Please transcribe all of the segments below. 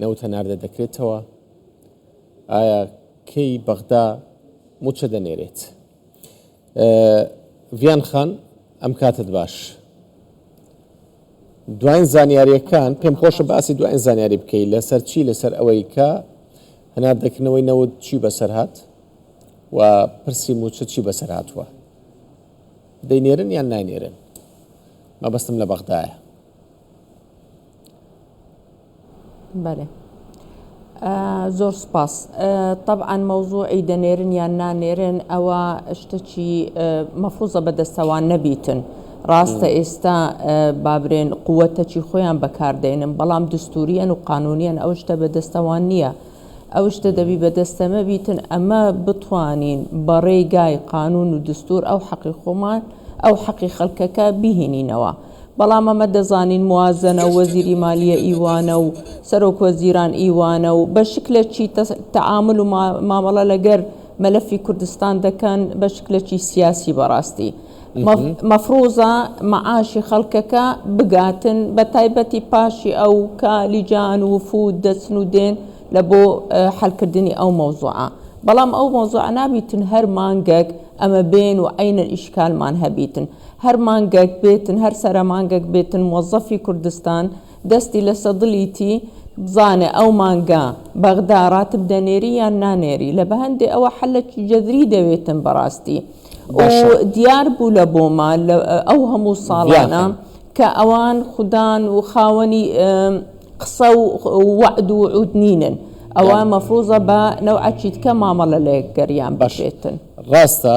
نەوت هەناردە دەکرێتەوە؟ ئایا کەی بەغدا موچە دەنێرێت؟ ڤیان خان ئەم کاتت باش دوایین زانیاریەکان پێم خۆشە باسی دوایین زانیاری بکەیت لەسەر چی لەسەر ئەوەی کە هەنار دەکردنەوەی نەوت چی بەسەر هاات و پرسی موچە چی بەسەر هاتووە دەینێرن یان ناینێرن مەبەستم لە بەغدایە بەێ زۆر سپاس طبعاان مەوزوعی دەنێرن یان نانێرن ئەوە شتەکی مەفوزە بەدەستەوان نەبیتن ڕاستە ئێستا بابرێن قووەتەکی خۆیان بەکاردێنن بەڵام دستوریان و قانونیان ئەو شتە بەدەستەوان نییە ئەو شتە دەبی بەدەستەمە بیتن ئەمە بتوانین بەڕێگای قانون و دستور ئەو حەقی خۆمان ئەو حەقی خەڵکەکە بهینینەوە. بەڵام ئەمە دەزانین موازەنە و وەزیری مالیە ئیوانە و سەرۆک وەزیران ئیوانە و بە شکلەکی تەعامل و مامەڵە لەگەر مەلەفی کوردستان دەکەن بە شکلەکی سیاسی بەڕاستی مەفروزە مەعاشی خەڵکەکە بگاتن بە تایبەتی پاشی ئەو کە لیجان و فود دەچن و دێن لە بۆ حلکردنی ئەو مەوزوعە بەڵام ئەو مەوزوعە نابیتن هەر مانگەک ئەمە بێن و عینەن ئیشکالمان هەبیتن هەر مانگەک بێتن هەر سەرە مانگەک بێتن موەزەفی کوردستان دەستی لەسە دڵیتی بزانێ ئەو مانگە بەغدا راتب دەنێری یان نانێری لە بەهەندێ ئەوە حەلەکی جەذری دەوێتن بەڕاستی و باشە دیار بوو لە بۆما لە ئەو هەموو ساڵانە ڤیاخەن کە ئەوان خودان و خاوەنی قسە و وەعد و عود نینن ئەوە یان مەفروزە بە نەوعەکیتکە مامەڵە لە یەکگەریان باش بکرێتن. ڕاستە.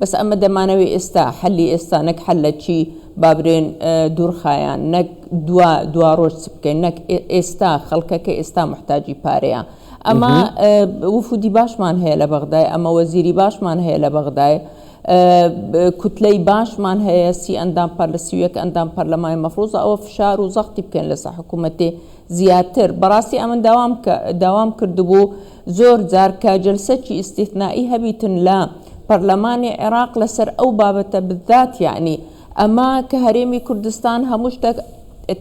بەس ئەمە دەمانەوێ ئێستا حەلی ئێستا نەک حەل لە چی با برێن دوورخایان نەک دوا دوا ڕۆژ چ بکەین نەک ئێستا خەڵکەکە ئێستا محتاجی پارەیە ئەمە وفودی باشمان هەیە لە بەغدای ئەمە وەزیری باشمان هەیە لە بەغدای کوتلەی باشمان هەیە سی ئەندام پەر لە سیوەک ئەندام پەرلەمای مەفرۆزە ئەوە فشار و زەختی بکەن لەسە حکوومەتێ زیاتر بەڕاستی ئەمن داوام داوام کردبوو زۆر جار کە جەلسەکی ئیستیثنائی هەبیتن لە پەرلەمانی عێراق لەسەر ئەو بابەتە بالذات یەعنی ئەمە کە هەرێمی کوردستان هەموو شتەک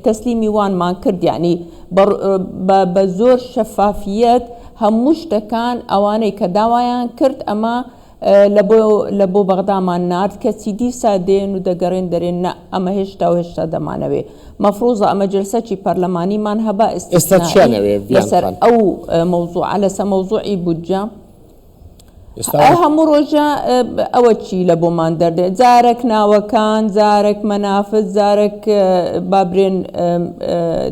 تەسلیمی وانمان کرد یەعنی بە بە زۆر شەفافیەت هەموو شتەکان ئەوانەی کە داوایان کرد ئەمە لە بۆ لە بۆ بەغدامان نارد کەچی دیسا دێن و دەگەرێن دەرێن نا ئەمە هێشتا و هێشتا دەمانەوێ مەفروزە ئەمە جەلسەچی پەرلەمانیمان هەبا ئیستیسنائی لەسەر ئەو مەوزوعە لەسە مەوزوعی بودجە ئەی هەموو ڕۆژە ئەوە چی لە بۆمان دەردێ جارەک ناوەکان جارەک مەنافت جارەک بابرێن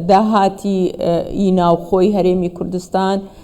داهاتی ئی ناوخۆی هەرێمی کوردستان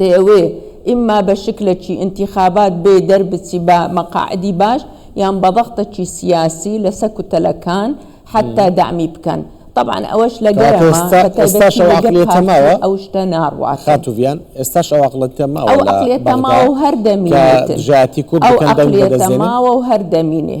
دەیەوێ ئیمما بە شکلەکی ئینتیخابات بێ دەربچی بە مەقاعدی باش یان بە ضغطەکی سیاسی لە سە کوتەلەکان حەتتا دەعمی بکەن تەبعەن ئەوەش لە گەرمە بە تایبەتی لە گەر پارتی ئەو شتە ناڕواتن. ئەو ئەقلیەتە ماوە و هەر دەمینێتن. ئەو ئەقلیەتە ماوە و هەر دەمینێ.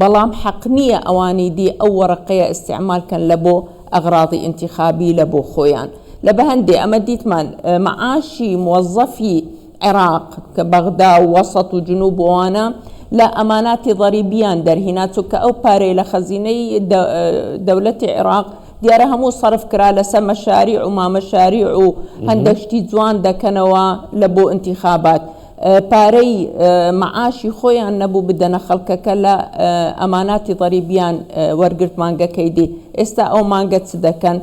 بەڵام حەق نیە ئەوانی دی ئەو وەڕەقەیە ئیستیعمال کەن لە بۆ ئەغراضی ئینتیخابی لە بۆ خۆیان لە بە هەندێ ئەمە دیتمان معاشی موەزەفی عێراق کە بەغدا و وەسەت و جنوب و ئەوانە لە ئەماناتی ضەریبیان دەرهینا چونکە ئەو پارەی لە خەزینەی دەولەتی عێراق دیارە هەموو سەرف کرا لە سە مەشاریع و مامەشاریع و هەندەک شتی جوان دەکەنەوە لە بۆ ئینتیخابات پارەی مەعاشی خۆیان نەبوو بدەنە خەڵکەکە لە ئەماناتی ضەریبیان وەرگرت مانگەکەی دی ئێستا ئەو مانگە چ دەکەن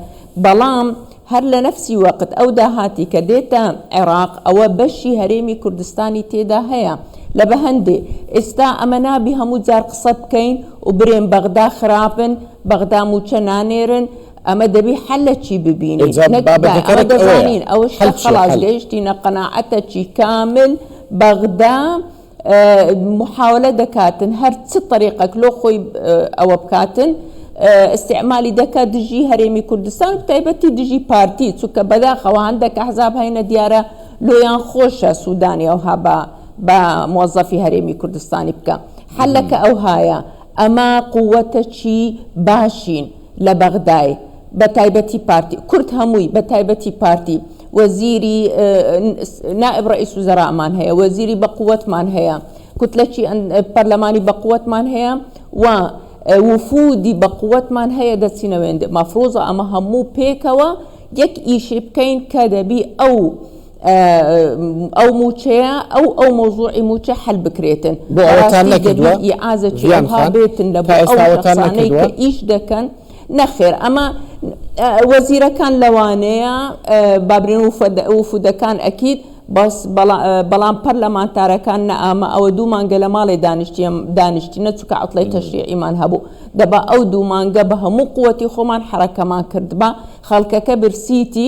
بەڵام هەر لە نەفسی وەقت ئەو داهاتی کە دێتە عێراق ئەوە بەشی هەرێمی کوردستانی تێدا هەیە لە بە هەندێ ئێستا ئەمە نابی هەموو جار قسە بکەین و برێن بەغدا خراپن بەغدا مووچە نانێرن ئەمە دەبی حەل لە چی ببینین ئینجا نەک دا بابەتەکە ئەمە رەت ئەوەیە دەزانین ئەوە شتە حەل چیە خەڵاس حەل گەیشتینە قەناعەتە چی کامل بەغدا اه، محاولە دەکاتن هەر چ طەریقەک لۆ خۆی اه، ئەوە بکاتن اه، استعمالی دەکا دژی هەرێمی کوردستان و بەتایبەتی دژی پارتی چونکە بەداخەوە هەندەک ئەحزاب هەینە دیارە لۆیان خۆشە سودانی ئەوها بە بە موەزەفی هەرێمی کوردستانی بکا حەلەکە ئەوهایە ئەمە قوەتەکی باشین لە بەغدای بە تایبەتی پارتی کورد هەمووی بە تایبەتی پارتی وەزیری نائب ڕئیس وزەرامان هەیە وەزیری بە قوتمان هەیە کوتلەکی پەرلەمانی بە قوتمان هەیە و وفودی بە قوتمان هەیە دەچینەوێندێ مەفرۆزە ئەمە هەموو پێکەوە یەک ئیشی بکەین کە دەبی ئەو ئەو موچەیە ئەو ئەو مۆزوعی موچە حل بکرێتن بۆ ئەوەتان نەکردوە ئازە چیان خان بێتن لە ئەوتانەی کە ئیش دەکەن نەخێر ئەمە وەزیرەکان لەوانەیە بابرین و وفودەکان ئەکیت بەس بەڵام پەر لە ماتارەکان نەئامە ئەوە دوو مانگە لە ماڵێ دانیشتیم دانیشتی نەچکە ئەڵی تەشریعیمان هەبوو دەبا ئەو دوو مانگە بە هەموو قوتی خۆمان حرەکەمان کردبا خەڵکەکە برسیتی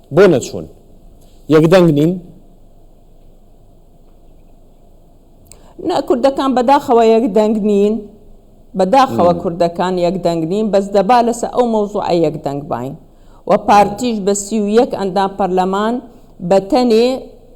بۆ نەچوون؟ یەک دەنگ نین؟ نا کوردەکان بەداخەوە یەک دەنگ نین. بەداخەوە کوردەکان یەک دەنگ نین بەس دەبا لەسە ئەو مەوزوعە یەک دەنگ باین و پارتیش بە سی و یەک ئەندام پەرلەمان بەتەنێ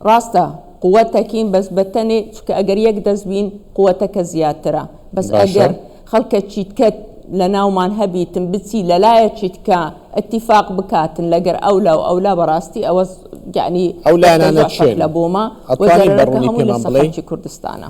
ڕاستە قوە تەکین بەس بە تەنێ چکە ئەگەر یەک دەست بین قوە تەکە زیاترە بەس ئەگەر خەڵکە چیتکەت لە ناومان هەبیتن بچی لەلایە چیتکە ئەتیفاق بکاتن لەگەر ئەو لاو ئەو لا بەڕاستی ئەوە گەعنی ئەو لایەنە چێن لە بۆمە وەزاری بەڕوونی پێمان بڵێ کوردستانە.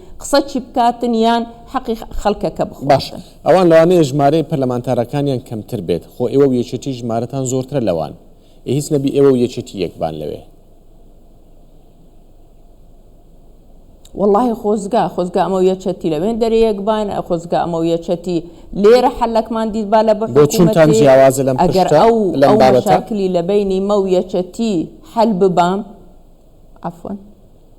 قسە چی بکاتن یان حەقی خەلکەکە باش بخواتن. ئەوان لەوانەیە ژمارەی پەرلەمانتارەکانیان کەمتر بێت خۆ ئێوەو یەکێتی ژمارەتان زۆرترە لەوان ئێ هیچ نەبی ئێوەو یەکێتی یەک بان لەوێ. وەڵاهی خۆزگا خۆزگا ئەمەو یەکێتی لەوێن دەرێ یەک باین ئە خۆزگا ئەمەو یەکێتی لێرە حەلەکمان دیتبا لە بۆ چونتان بەحکومەتێ جیاوازە لەم ئەگەر پرشتە ئەو لەم ئەو بابەتە؟ مەشاکلی لەبەینی مەو یەکێتی حەل ببام عەفوەن.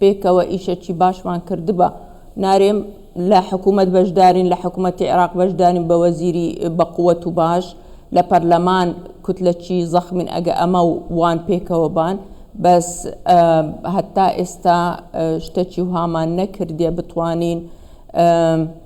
پێکەوە ئیشەکی باشمان کردبا. نارێم لە حکومەت بەشدارین لە حکومەتی عێراق بەشدارین بە وەزیری بە قوەت و باش لە پەرلەمان کوتلەکی زەخمین ئەگە ئەمە و وان پێکەوە بان بەس هەتا ئێستا شتەکی وهامان نەکردیە بتوانین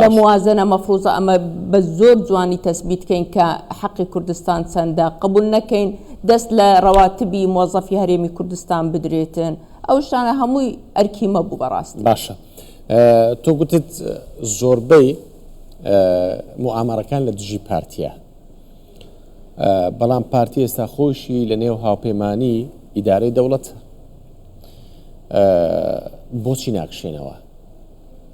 لە موازەنە مەفروزە ئەمە بە زۆر جوانی تەسبیت کەین کە حەقی کوردستان چەندە قبول نەکەین دەست لە ڕەواتبی مۆزەفی هەرێمی کوردستان بدرێتن ئەو شتانە هەمووی ئەرکی مەبوو بەڕاستی باشە تۆ گوتت زۆربەی موامەڕەکان لە دژی پارتیە بەڵام پارتی ئێستا خۆشی لە نێو هاوپەیمانانی ئیدارەی دەوڵەت بۆچی ناکشێنەوە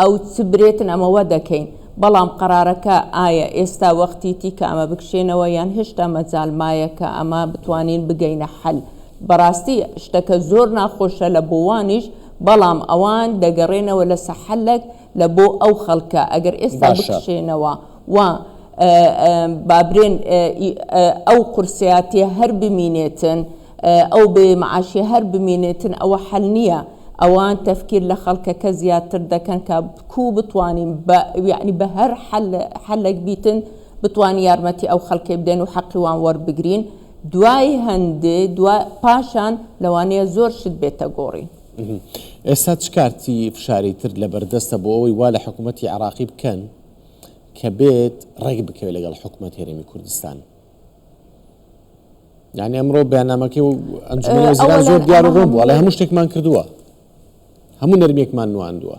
ئەو چ برێتن ئەمەوە دەکەین. بەڵام قەرارەکە ئایا ئێستا وەختیتی کە ئەمە بکشێنەوە یان هێشتا مەجال مایە کە ئەمە بتوانین بگەینە حەل؟ بەڕاستی شتەکە زۆر ناخۆشە لە بۆوانیش بەڵام ئەوان دەگەڕێنەوە لەسە حەلەک لە بۆ ئەو خەڵکە ئەگەر ئێستا باشە. بکشێنەوە و با برێن ئەو قورسیاتیە هەر بمینێتن. ئەو بێ معاشیە هەر بمینێتن ئەوە حەل نیە ئەوان تەفکیر لە خەڵکەکە زیاتر دەکەن کە کو بتوانین بە یەعنی بە هەر حەل حەلەک بیتن بتوانین یارمەتی ئەو خەلکەی بدەین و حەقی وان وەربگرین دوای هەندێ دوا پاشان لەوانەیە زۆر شت بێتە گۆڕین. ئێستا چ کارتی فشاری تر لەبەر دەستە بۆ ئەوەی وا لە حکوومەتی عێڕاقی بکەن کە بێت ڕێک بکەوێت لەگەڵ حکوومەت هێرێمی کوردستان؟ یعنی ئەمڕۆ بەنامەکە و ئەنجومەنەوەزیران زۆر دیار و ڕۆم وڵی هەموو شتێکمان کردووە هەموو نەرمێکمان نواندووە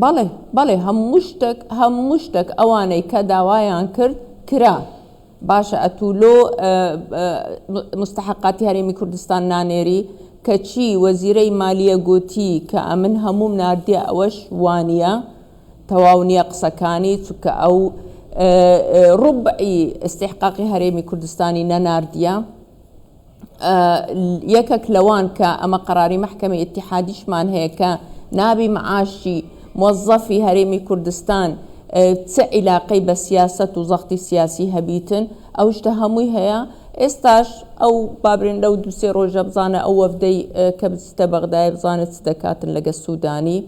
بەڵێ بەڵێ هەموو شتێک هەموو شتێک ئەوانەی کە داوایان کرد کرا باشە ئەتو لۆ مستحقاتی هەرێمی کوردستان نانێری کەچی وەزیرەی مالیە گوتی کە ئەمن هەموم نردە ئەوەش وانە تەواو نیە قسەکانی چونکە ئەو ڕوبعی استحقاقی هەرێمی کوردستانی نەناردیە یەکەک لەوان کە ئەمە قەراری مەحکەمی اتحادیشمان هەیە کە نابی معاشی مۆزەفی هەرێمی کوردستان چ عیلاقەی بە سیاست و زەختی سیاسی هەبیتن ئەو شتە هەمووی هەیە ئێستاش ئەو بابرێن لەو دوسێ ڕۆژە بزانە ئەو وەفدەی کە بچتە بەغدای بزانە چ دەکاتن لەگە سوودانی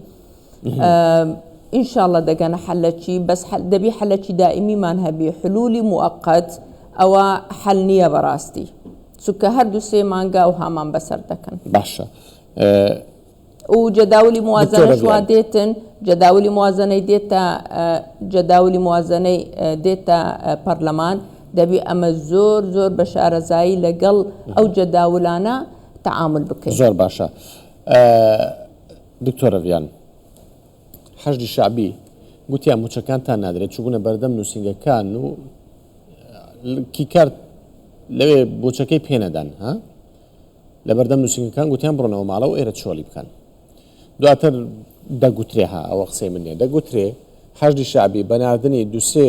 ان شاء اللە دەگەنە حەلەکی بەس دەبی حەلەکی دائمیمان هەبی حلولی موقت ئەوە حەل نییە بەڕاستی چونکە هەردوو سێ مانگا و هامان بەسەر دەکەن باشە و جەداولی موازنەش وا دێتن جەداولی موازنەی دێتە جەداولی موازنەی دێتە پەرلەمان دەبی ئەمە زۆر زۆر بە شارەزایی لەگەڵ ئەو جەداولانە تعامل بکەین زۆر باشە دکتۆرە ڤیان، حەشدی شەعبی، گوتیان مووچەکانتان نادرێت، چووبوونە بەردەم نووسینگەکان و کیکارت لەوێ مووچەکەی پێ نەدان، ها؟ لە بەردەم نووسینگەکان گوتیان بڕۆنەوە ماڵەوە ئێرە چۆلی بکەن. دواتر دەگوترێ، ها، ئەوە قسەی من نییە، دەگوترێ، حەشدی شەعبی بە ناردنی دوو سێ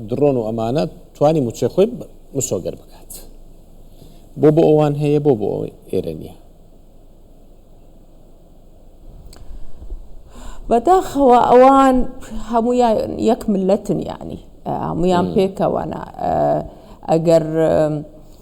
دڕۆن و ئەمانە توانی موچەی خۆی مسۆگەر بکات. بۆ بۆ ئەوان هەیە بۆ بۆ ئێرە نییە. بەداخەوە ئەوان هەمویان یەک ملەتن یعنی هەمویان پێکەوەە ئەگەر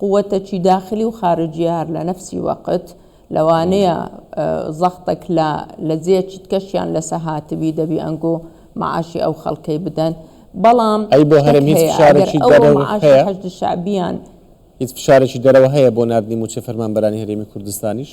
قوتەکی داخلی و خارجیە هەر لە نەفسی وەقت لەوانەیە زەختەک لە لە جێ چتکەشیان لەسە هاتبی دەبی ئەنگۆ معاشی ئەو خەلکەی بدەن بەڵام ئەی بۆ هەرێم شتەک هیچ هەیە ئەگەر فشارێکی ئەوە دەرەوە معاشی هەیە حەشد شەعبیان هیچ فشارێکی دەرەوە هەیە بۆ ناردنی موچەی فەرمانبەرانی هەرێمی کوردستانیش؟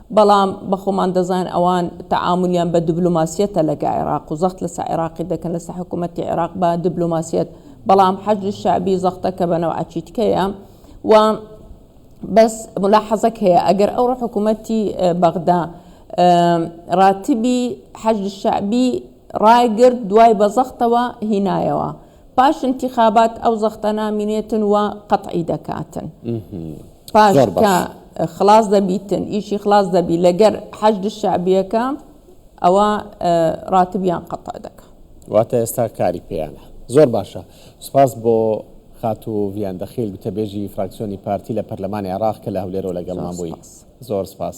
بەڵام بەخۆمان دەزان ئەوان تەعامولیان بە دبلۆماسیەتە لە گە عێراق و زەخت لە سە عێراقی دەکەن لە سە حکومەتی عێراق بە دبلۆماسیەت بەڵام حەشدی شەعبی زەختە کە بە نەو عە چیتکەیە و بەس ملاحەزەک هەیە ئەگەر ئەوڕۆ حکوومەتی بەغدا ڕاتبی حەج شعبی ڕایگرت دوای بە زەختەوە هینایەوە پاش انتخابات ئەو زەختە نامینێتن و قەتعی دەکاتن. پاش کە خڵاس دەبیتن ئیشی خڵاس دەبی لەگەر حەشد شعبیەکە ئەوە ڕاتبیان قەتع دەکە واتە ئێستا کاری پێیانە زۆر باشە سپاس بۆ خاتو ڤیان دەخیل گوتەبێژی فراکسیۆنی پارتی لە پەرلەمانی عێراق کە لە هەولێرەوە لەگەڵمان بووی زۆر سپاس.